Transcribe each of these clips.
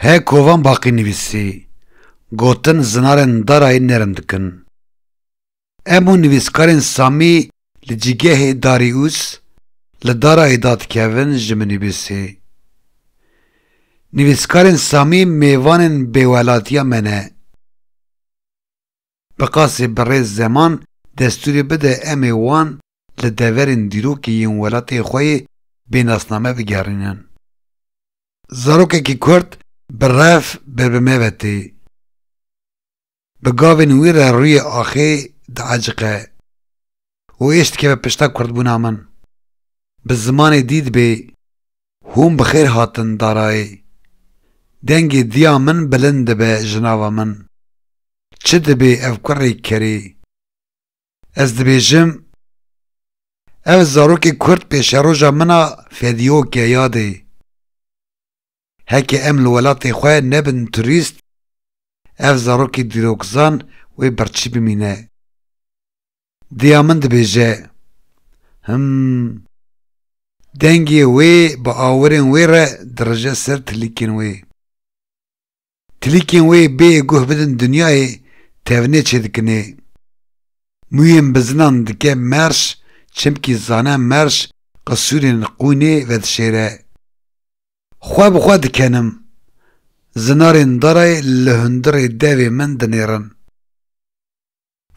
Hê kovan baqî nivîsî, gotin zinarên darayî nêrm dikin. Hemû nivîskarên samî li cîgehê Darius li darayî da dikevin ji min nivîsî. Nivîskarên samî mêvanên bêwelatiya me ne. Bi qasî birêz zeman destûrê bide em ê wan li deverên dîrokê yên welatê xwe yê bê nasname bigerînin. Zarokekî kurd bi rev ber bi me ve tê. Bi gavên wî re rûyê axê diaciqe. û êş dikeve pişta kurdbûna min. Bi zimanê dî dibê hûn bi xêr hatin darayê. Dengê diya min bilind dibe ji nava min. Çi dibê ev kurê kerê? Ez dibêjim ev zarokê kurd pêşeroja min a fedîok e yadê. Heke em li welatê xwe nebin turîst, ev zarokê dîrokzan wê birçî bimîne. Diya min dibêje, Him. Dengê wê bi awirên wê re dirije ser tilîkên wê. Klîkên wê bêyê guh bidin dinyayê tevnê çêdikinê. Mûyên bizinan dike merş çimkî zane merş qisûrên qûnê vedişêre. Xwe bi xwe dikenim. Zinarên darayê li hundirê devê min dinêrin.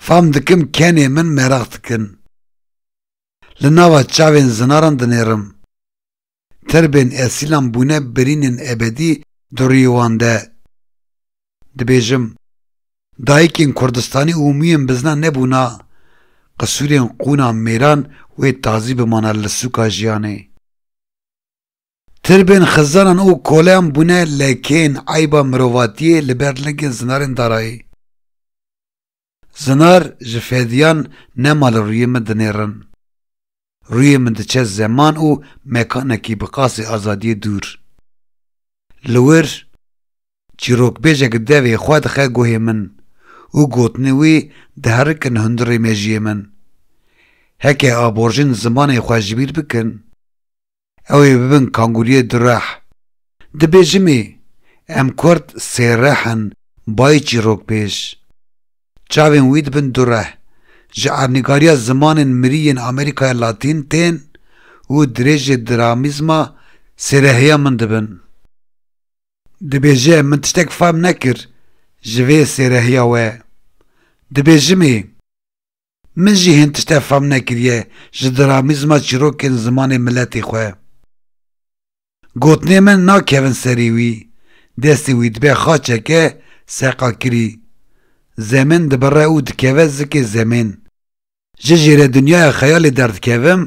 Fam dikim kenê min meraq dikin. Li nava çavên zinaran dinêrim. Tirbên esîlan bûne birînên ebedî di rûyê wan de. Dibêjim, dayikên Kurdistanî û mûyên bizna nebûna, qisûrên qûna mêran wê tazî bimana li sûka jiyanê. Tirbên xizanan û koleyan bûne lekên eyba mirovatiyê li ber lingên zinarên darayî. Zinar ji fêdiyan nema li rûyê min dinêrin. Rûyê min diçe zeman û mekanekî bi qasî azadiyê dûr. Li wir, çîrokbêjek devê xwe dixe guhê min û gotinên wî diherikin hundirê mejiyê min. Heke aborjên zimanê xwe ji bîr bikin, ew ê bibin kangûriyê du reh. Di bêjimê Em Kurd sê reh in bayê çîrok pêş. Çavên wî dibin du reh, ji ernîgariya zimanên mirî yên Amerîkaya Latîn tên û dirêjê dramîzma sêreheya min dibin. Dibêje min tiştek fehm nekir ji vê sêreheya we. Di bêjimê. Min jî hên tişte fam nekiriye ji dramîzma çîrokên zimanê miletê xwe. Gotinê min nakevin serî wî, destê wî dibe xaçeke seqakirî. Zemin dibire û dikeve zikê zemên. Ji jêredinyaya xeyalê derdikevim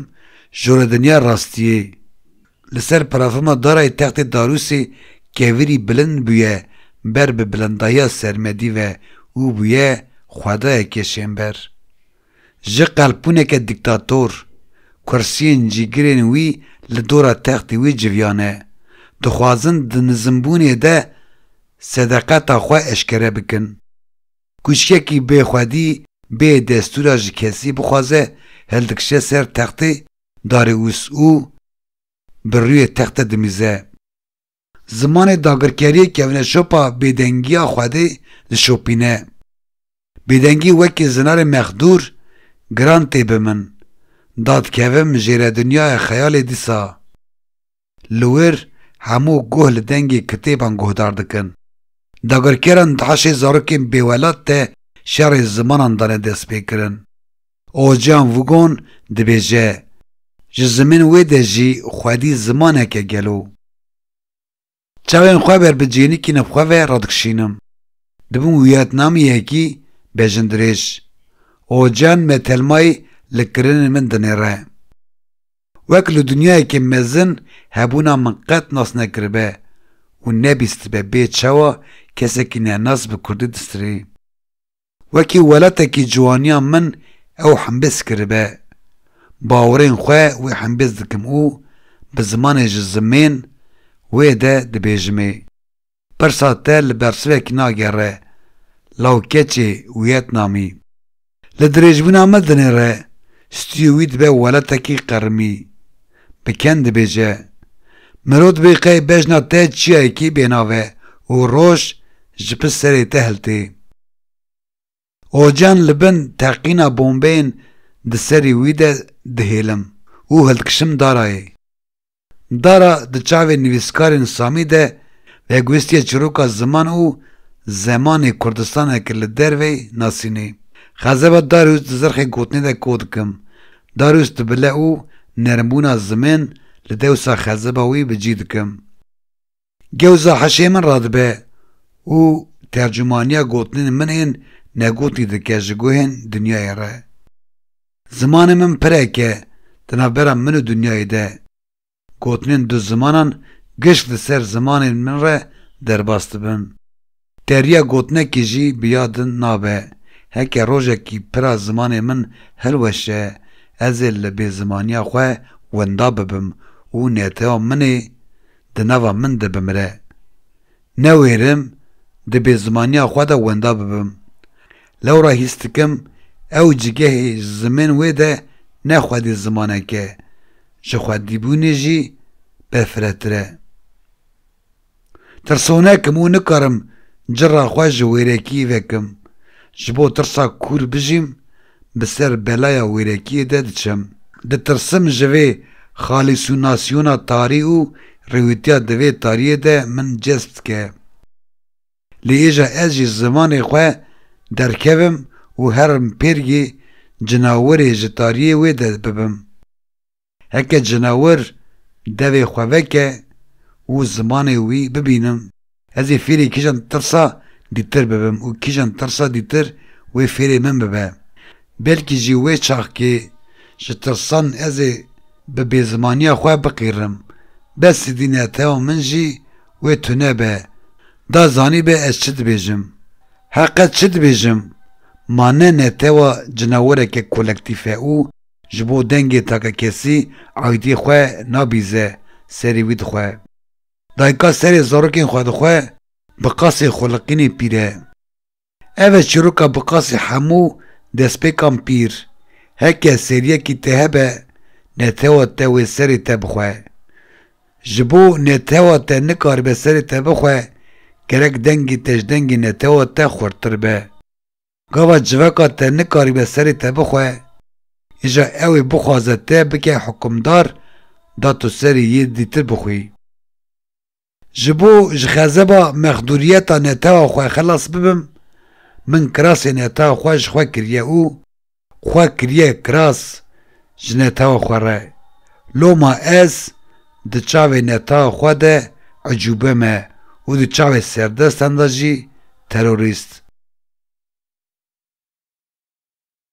jûredinyaya rastiyê. Li ser parafirma darayê textê Darûsê kevirî bilind bûye ber bi bilindahiya sermedî ve û bûye xwedayeke şênber. Ji qelpûneke dîktator, kursiyên cîgirên wî li dora textê wî civiyane, dixwazin di nizimbûnê de sedeqeta xwe eşkere bikin. Kûçikekî bê xwedî, bê destûra ji kesî bixwaze hildikişe ser textê Darius û bi rûyê texte dimîze. Zimanê dagirkeriyê kevne şopa bêdengiya Xwedê dişopîne. Bêdengî wekî zinarê mexdûr giran tê bi min. Da dikevim jêre dinyaya xeyalê dîsa. li wir hemû guh li dengê kitêban guhdar dikin. Dagirkeran di heşê zarokên bêwelat de şerê zimanan dane destpêkirin. Ocean Vugon dibêje, Ji zimên wê de jî xwedî zimanek e gelo. Çavên xwe ber bi cênikî navxwe ve re dikişînim. Dibim wiyetnamiyekî bejindirêj. Ocean me telmayî li kirinên min dinêre. Wek li dunyayekî mezin hebûna min qet nas nekiribe û nebîstibe bê çawa kesekî nenas bi kurdî distirê. Wekî welatekî ciwaniya min ew himbêz kiribe. Bawerên xwe wê himbêz dikim û bi zimanê ji zimên wê de dibêjimê. Pirsa te li bersivek nagere, law keçê Wîetnamî. Li dirêjbûna me dinê re, stûyê wî dibe weletekî qerimî. Bi ken dibêje, Miro dibê qey bejna te çiyayekî bênav e û roj ji pişt serê te hiltê. Ocan li bin teqîna bombeyên di serî wî de dihêlim û hildikişim Darayê. Dara di çavê nivîskarên Samî de vegwestiye çîroka ziman û zemanê Kurdistanê ki li dervey nasînê. Xezeba Darius di zirxê gotinê de ko dikim. Darius dibile û nermbûna zimên li dewsa xezeba wî bi cî dikim. Gewza hişê min radibe û tercumaniya gotinên min ên negotî dike ji guhên dinyayê re. Zimanê min pirek e di navbera min û dinyayê de. Gotinên du zimanan giş li ser zimanên min re derbas dibin. Teriya gotinekê jî bi ya din nabe, heke rojekî pira zimanê min hilweşe, ez ê li bêzimaniya xwe winda bibim û neteya min ê di nava min de bimire. Newêrim di bêzimaniya xwe de winda bibim. Lewra hîs dikim ew cigehê ji zimên wê de ne xwedî zimanek e, ji xwedîbûnê jî befretir e. Tirsonek im û nikarim cira xwe ji wêrekiyê vekim. Ji bo tirsa kûr bijîm, bi ser belaya wêrekiyê de diçim. Ditirsim ji vê xalîsunasyona tarî û rêwîtiya di vê tariyê de min cezb dike. Lê êja ez ji zimanê xwe derkevim û herim pêrgê cinawerê ji tariyê wê de bibim. Heke cinawir devê xwe veke û zimanê wî bibînim, ez ê fêrê kîjan tirsa dîtir bibim û kîjan tirsa dîtir wê fêrê min bibe. Belkî jî wê çaxkê ji tirsan ez ê bi bêzimaniya xwe biqîrim. Besî dî ne teo min jî wê tune be. Da zanîbe ez çi dibêjim. Heqe çi dibêjim? Ma ne ne tewa cinawireke kolektîf e û Ji bo dengê take kesî aydî xwe nabîze serê wî dixwe. Dayika serê zarokên xwe dixwe bi qasê xoliqînê pîr e. Ev e çîroka bi qasê hemû destpêkan pîr, heke seriyekî te hebe netewa te wê serê te bixwe. Ji bo netewa te nikaribe serê te bixwe, gerek dengê te ji dengê netewa te xurttir be. Gava civaka te nikarîbe serê te bixwe, îja ew ê bixwaze te bike hukimdar da tu serê yê dîtir bixwî. Ji bo ji xezeba mexdûriyeta netewa xwe xelas bibim, min kirasê netewa xwe ji xwe kiriye û xwe kiriye kiras ji netewa xwe re. Loma ez Di çavê netawa xwe de ecûbe me û di çavê serdestan de jî terorîst.